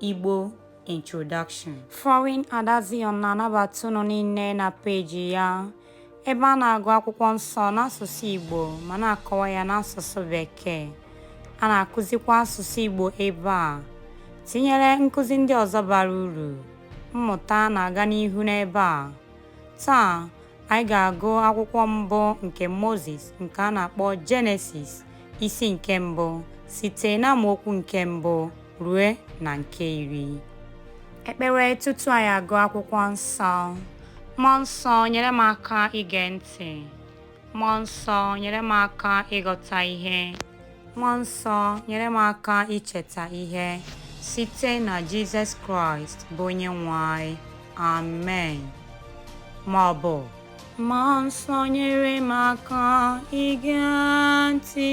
Igbo Introduction Foreign Ada Zion na-anabata unu niile na peji ya ebe a na-agụ akwụkwọ nsọ n'asụsụ Igbo ma na-akọwa ya n'asụsụ Bekee. A na-akụzikwa asụsụ Igbo ebe a, tinyere nkụzi ndị ọzọ bara uru. Mmụta na-aga n'ihu n'ebe a. Taa, anyị ga-agụ akwụkwọ mbụ nke Mozis nke a na-akpọ Jenesis isi nke mbụ site n'amaokwu nke mbụ rue na nke iri. Ekpere tutu anyị agụ akwụkwọ nsọ. Mmụọ nsọ nyere m aka ige ntị. Mmụọ nsọ nyere m aka ịghọta ihe. Mmụọ nsọ nyere m aka icheta ihe site na Jizọs Kraịst bụ onye nwe anyị. Amen. Ma ọ bụ Mmụọ nsọ nyere m aka ige ntị.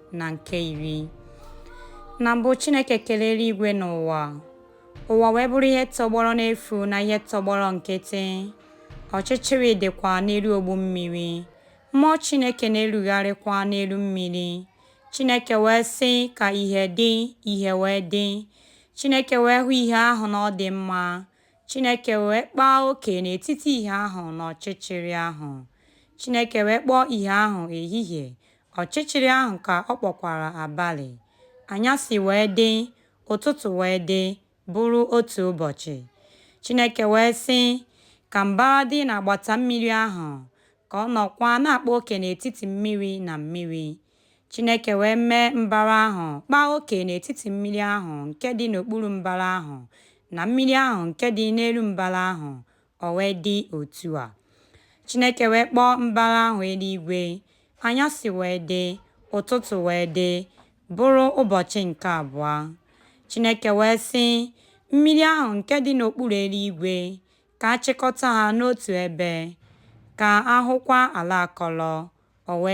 na nke iri na mbụ Chineke kere eluigwe na ụwa ụwa wee bụrụ ihe tọgbọrọ n'efu na ihe tọgbọrọ nkịtị ọchịchịrị dịkwa n'elu ogbu mmiri mmụọ Chineke na-erugharịkwa n'elu mmiri Chineke wee sị ka ihe dị ihe wee dị Chineke wee hụ ihe ahụ na ọ dị mma Chineke wee kpaa oke n'etiti ihe ahụ na ọchịchịrị ahụ Chineke wee kpọọ ihe ahụ ehihie Ọchịchịrị ahụ ka ọ kpọkwara abalị. Anyasị wee dị, ụtụtụ wee dị, bụrụ otu ụbọchị. Chineke wee sị, Ka mbara dị n'agbata mmiri ahụ, ka ọ nọkwa na-akpa oke n'etiti mmiri na mmiri. Chineke wee mee mbara ahụ kpaa oke n'etiti mmiri ahụ nke dị n'okpuru mbara ahụ na mmiri ahụ nke dị n'elu mbara ahụ, O wee dị otu a. Chineke wee kpọọ mbara ahụ eluigwe, anyasị wee dị, ụtụtụ wee dị, bụrụ ụbọchị nke abụọ. Chineke wee sị, Mmiri ahụ nke dị n'okpuru eluigwe, ka a chịkọta ha n'otu ebe, ka a hụkwa ala akọrọ. O wee.